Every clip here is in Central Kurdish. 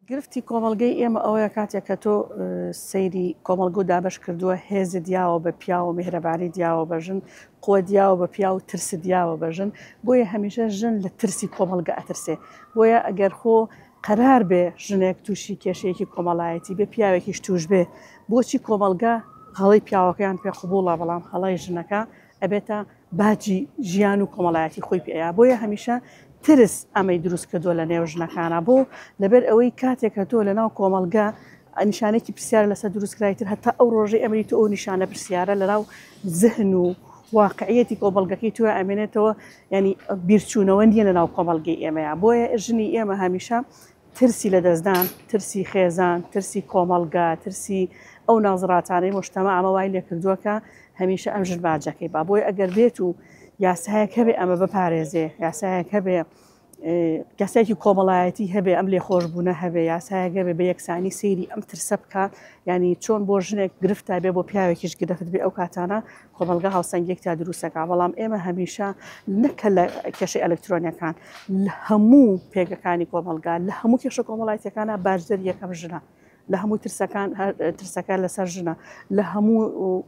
گرفتی کۆمەڵگەی ئێمە ئەوەیە کاتێک کە تۆ سەیری کۆمەڵگە و دابەش کردووە هێز دیاوە بە پیاوە و میهرەبانی دیاوە بە ژن قوە دیاوە بە پیاو و ترس دیاوە بە ژن بۆیە هەمیشە ژن لە ترسی کۆمەڵگە ئەترسێ بۆیە ئەگەر خۆ قەرار بێ ژنێک تووشی کێشەیەکی کۆمەڵایەتی بێ پیاوێکیش توش بێ بۆچی کۆمەڵگە هەڵی پیاوەکەیان پێ قوبوڵە بەڵام هەڵی ژنەکە ئەبێتە باجی ژیان و کۆمەڵایەتی خۆی پێیە بۆیە هەمیشە ترس ئەمەی دروست کردووە لە نێو ژنەکانە بۆ لەبەر ئەوەی کاتێک کە تۆ لە ناو کۆمەلگە نیشانێکی پرسیار لەسەر دروستکرای تر هەتا ئەو ڕۆژەی ئەمری تۆ ئەو نیشانە پرسیارە لە ناو زهن و واقعەتی کۆمەلگەکەی توە ئەمێنێتەوە ینی بیرچوونەوە نیە لە ناو کۆمەلگەی ئێمەیە بۆیە ژنی ئێمە هەمیشە ترسی لەدەستدان، ترسی خێزان، ترسی کۆمەڵگا، ترسی ئەو نازڕاتانەی مۆشتەما ئەمە وای لێکردووە کە هەمیشە ئەم ژن باجەکەی با بۆی ئەگەر بێت و یاسایەک هەبێ ئەمە بپارێزێ یاسایەک هەبێ کەسێکی کۆمەڵایەتی هەبێ ئەم لێ خۆش بوونە هەبێ یاسایە گەبێ بە یەکسانی سەیری ئەم ترسە بکە ینی چۆن بۆ ژنێک گرفت تا بێ بۆ پیاوێکیش گرفت بێ ئەو کاتانە کۆمەڵگا هاوسەنگیەک تیا دروست دەکات، بەڵام ئێمە هەمیشە نەک کە لە کێشەی ئەلکترۆنیەکان لە هەموو پێگەکانی کۆمەڵگا لە هەموو کێشە کۆمەڵایەتەکانە بارزەر یەکەم ژنە. لە هەموو ترسەکان ترسەکە لەسەر ژنە لە هەموو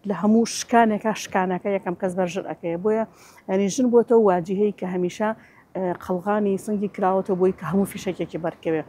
لە هەموو شکانێکا شکانەکە یەکەم کەس بەر ژن ئەەکەیە بۆیە ینی ژن بۆتەوە واجهەیە کە هەمیشە قەلغانی سنگی کراوەتە بۆی کە هەموو فیشەکێکی بەرکەوێت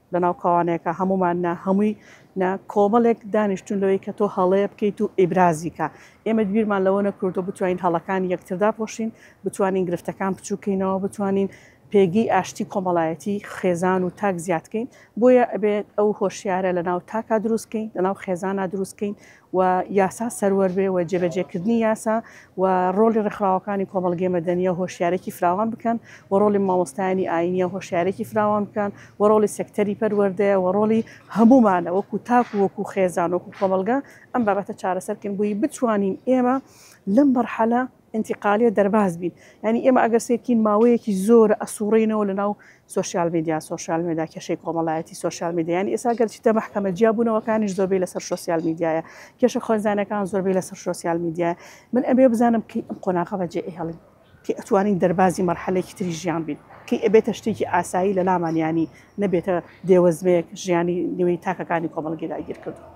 لەناو کاوانەیەکا هەموومان نا هەمووی نا کۆمەڵێک دانیشتوون لەوەی کە تۆ هەڵەیە بکەیت و ئیبرازی کا ئێمە بیرمان لەوە نەکردو بتوانین هەڵەکانی یەکتر داپۆشین بتوانین گرفتەکان بچووکەینەوە بتوانین پێگەی ئاشتی کۆمەڵایەتی خێزان و تاک زیادکەین بۆیە ئەبێت ئەو هۆشیارە لەناو تاکا دروستکەین لەناو خێزانا دروستکەین و یاسا سەروەر بێ و جێبەجێ کردنی یاسا و ڕۆڵی ڕێکخراوەکانی کۆمەڵگەی مەدەنیە هۆشیارێکی فراوان بکەن و ڕۆڵی مامۆستایانی ئاینیە هۆشیارێکی فراوان بکەن و ڕۆڵی سێکتەری پەروەردەیە و ڕۆڵی هەموومانە وەکو تاک و وەکو خێزان وەکو کۆمەڵگە ئەم بابەتە چارەسەر کەین بۆی بتوانین ئێمە لەم مەرحەلە ئینتیقالیە دەرباز بین یانی ئێمە ئەگەر سەیرکەین ماوەیەکی زۆرە ئەسوڕێینەوە لەناو سۆشیال میدیا سۆشیال میدا کێشەی کۆمەڵایەتی سۆشیال میدیا یانی ئێستا گەر چیتە مەحکەمە جیابوونەوەکانیش زۆربەی لەسەر شۆسیال میدیایە کێشە خۆنزانەکان زۆربەی لەسەر شۆسیال میدیا من ئەبێ بزانم کەی ئەم قۆناغە بەجێ ئێهڵین کەی ئەتوانین دەربازی مەرحەلێکی تری ژیان بین کەی ئەبێتە شتێکی ئاسایی لە لامان یانی نەبێتە دێوەزمەیەک ژیانی نوێی تاکەکانی کۆمەڵگەی داگیر کردووە.